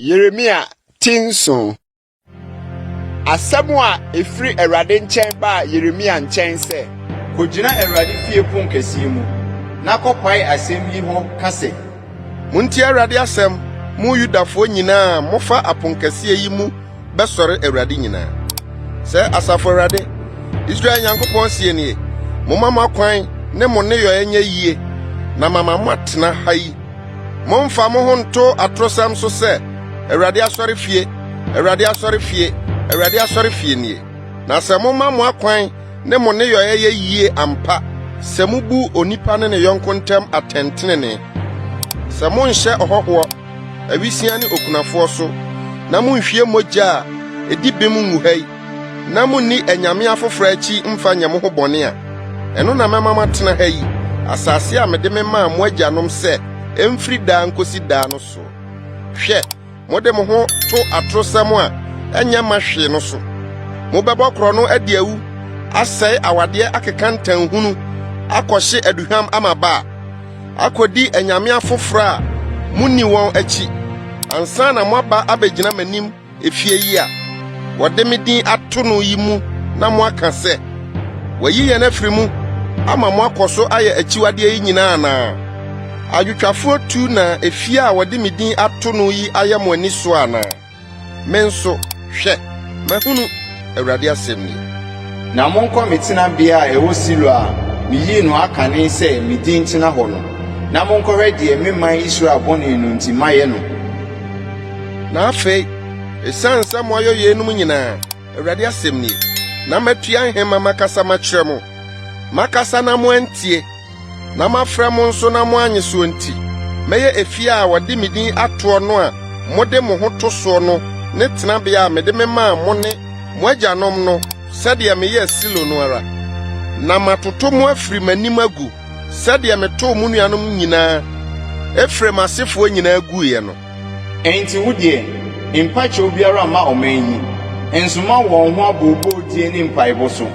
Yeremia ti nson. Asɛm a ɛfiri Awurade nkyɛn baa Yeremia nkyɛn sɛ. Kɔgyina Awurade fie pon kɛseɛ mu, na kɔpae asɛm yi hɔ ka sɛ. Montie Awurade asɛm, mo Yudafoɔ nyinaa a mofa aponkɛseɛ yi mu bɛsɔre Awurade nyinaa. Sɛ Asafo Awurade, Israel Nyankopɔn sie nie, momma mo akwan ne mo nneyɔɛ nyɛ yie na mama moatena ha yi. Mommfa mo ho nto atorosɛm so sɛ, 'Awurade asɔrefie, Awurade asɔrefie, Awurade asɔrefie nie. Na sɛ moma mo akwan ne mo nneyɔɛ yɛ yie ampa, sɛ mubu onipa ne ne yɔnko ntam atɛntenenee, sɛ monhyɛ ɔhɔhoɔ, Awisiaa ne okunafoɔ so, na monhwie mogya a ɛdi bem ngu ha yi, na monni anyame afoforɔ akyi mfa nyɛ mo ho bɔne a, ɛno na mɛma moatena ha yi, asase a mede memaa mo agyanom sɛ ɛmfiri daa nkɔsi daa no so. Hwɛ, mode mo ho to atorosɛm a ɛnyɛ mma hwee no so. Mobɛbɔ korɔno adi awu, asɛe awadeɛ akeka ntanhunu, akɔhye aduhwam amaba a. akodi anyame afoforo a munni wɔn akyi ansa na moaba abegyina m'anim efie yi a wɔde me din ato no yi mu na moaka sɛ, wɔayi yɛn afiri mu ama moakɔ so ayɛ akyiwadeɛ yi nyinaa anaa? Adwotwafoɔ tu na efie a wɔde me din ato no yi ayɛ mo ani so anaa? Me nso, hwɛ, mahunu, Awurade asɛm ni. Na monkɔ me tenabea a ɛwɔ Silo a miyii no akane sɛ me din ntena hɔ no, na monkɔhwɛ deɛ me man Israel bɔne no nti mayɛ no. Na afei, ɛsiane sɛ moayɔ yeinom nyinaa, Awurade asɛm nie, na matua nhema makasa makyerɛ mo, makasa na moantie, na mafrɛ mo nso na moannye soɔ nti, mɛyɛ efie a wɔde me din atoɔ no a mode mo ho to soɔ no ne tenabea a mede memaa mo ne mo agyanom no sɛdeɛ meyɛɛ Silo no ara. Na matoto mo afiri m'anim agu sɛdeɛ metoo mo nuanom nyinaa, Efraim asefoɔ nyinaa guiɛ no. Enti wo deɛ, mpa kyɛw biara mma ɔman yi, nsoma wɔn ho abooboo die ne mpaebɔ so.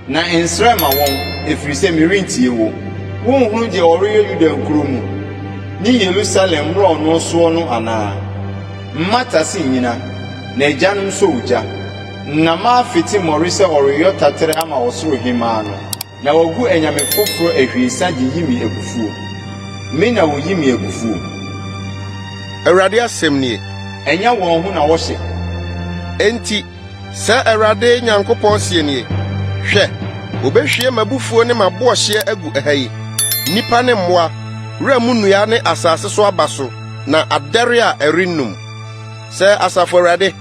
Na nsrɛ mma wɔn, ɛfiri sɛ merentie wo. Wonhunu deɛ wɔreyɛ Yuda nkuro mu ne Yerusalem mmorɔno soɔ no anaa? Mmata se nnyina, na agyanom sɔ ogya, na mafete mmɔre sɛ wɔreyɔ taterɛ ama ɔsoro Hemmaa no. Na wɔagu anyame foforɔ ahwiesa de yi me abufuo. Me na wɔyi me abufuo. Awurade asɛm nie. Ɛnyɛ wɔn ho na wɔhyɛ. Enti Sɛ Awurade Nyankopɔn seɛ nie, Hwɛ, wɔbɛhwie m'abufuo ne m'aboɔhyeɛ agu ɛha yi, nnipa ne mmoa, wura mu nnua ne asase so aba so, na adɛre a ɛrennum. Sɛ Asafo Awurade,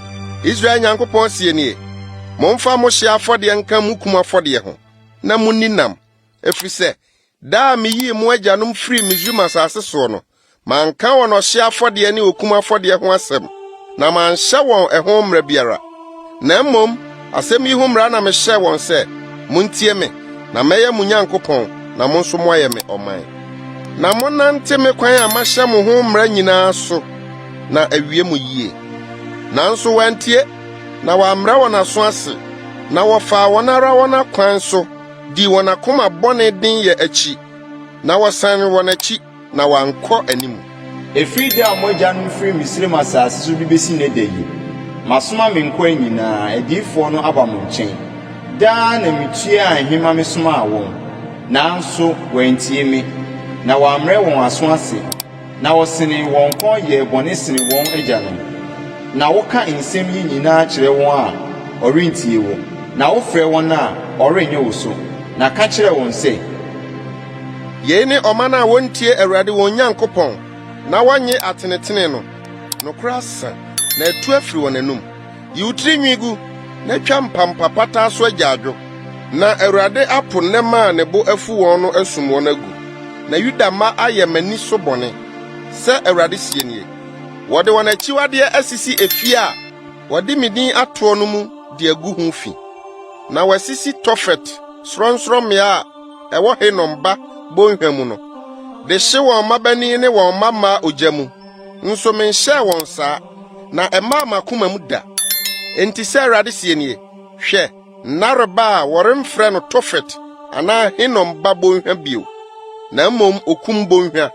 Israel Nyankopɔn seɛ nie, Momfa mo hyeɛ afɔdeɛ nka mo kum afɔdeɛ ho, na monni nam, ɛfiri sɛ Da a miyii mo agyanom firii Misraim asase soɔ no, manka wɔn ɔhyeɛ afɔdeɛ ne okum afɔdeɛ ho asɛm, na manhyɛ wɔn ɛho mmara biara. Na mmom asɛm yi ho mmara na mehyɛɛ wɔn sɛ, Montie me, na mɛyɛ mo Nyankopɔn, na mo nso moayɛ me ɔman. Na monnante me kwan a mahyɛ mo ho mmara nyinaa so, na awie mo yie. Nanso wɔantie, na wɔammrɛ wɔn aso ase, na wɔfaa wɔn ara wɔn akwan so, dii wɔn akoma bɔne den yɛ akyi, na wɔsan wɔn akyi, na wɔankɔ anim. Ɛfiri da a mo agyanom firii Misraim asase so de bɛsi nnɛ da yi, masoma me nkoa nyinaa, adiyifoɔ no, aba mo nkyɛn. Daa na metuaa he ma mesomaa wɔn, nanso wɔantie me, na wɔammrɛ wɔn aso ase. Na wɔsenee wɔn kɔn yɛɛ bɔne sene wɔn agyanom. Na woka nsɛm yi nyinaa kyerɛ wɔn a, wɔrentie wo, na wofrɛ wɔn a, wɔrennye wo so. Na ka kyerɛ wɔn sɛ. Yei ne ɔman a wɔntie Awurade wɔn Nyankopɔn na wɔnnye atenetene no. Nokorɛ asa, na atu afiri wɔn anom. Yi wo tiri nwi gu, na twa mpampa pataa so agyaadwo, na Awurade apo nnɛmma a ne bo afu wɔn no asum wɔn agu, na Yuda mma ayɛ m'ani so bɔne, sɛ Awurade seɛ nie. Wɔde wɔn akyiwadeɛ asisi efie a wɔde me din atoɔ no mu de agu ho fi, na wɔasisi Tofet sorɔnsorɔmmea a ɛwɔ Hinom ba bɔnhwa mu no, de hye wɔn mmabanin ne wɔn mmammaa ogya mu. nso menhyɛɛ wɔn saa, na ɛmaa m'akoma mu da. Enti sɛ Awurade seɛ nie, Hwɛ, nna reba a wɔremfrɛ no Tofet anaa Hinom ba bɔnhwa bio, na mmom Okum Bɔnhwa,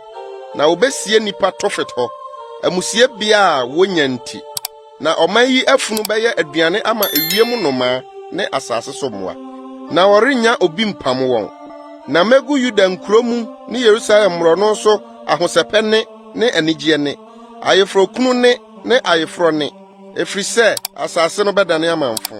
na wɔbɛsie nnipa Tofet hɔ, amusiebea a wɔnya nti. Na ɔman yi afunu bɛyɛ aduane ama ewiem nnomaa ne asase so mmoa, na wɔrennya obi mpam wɔn. Na megu Yuda nkurow mu ne Yerusalem mmorɔno so ahosɛpɛ nne ne anigye nne, ayeforokunu nne ne ayeforɔ nne, ɛfiri sɛ asase no bɛdane amamfõ.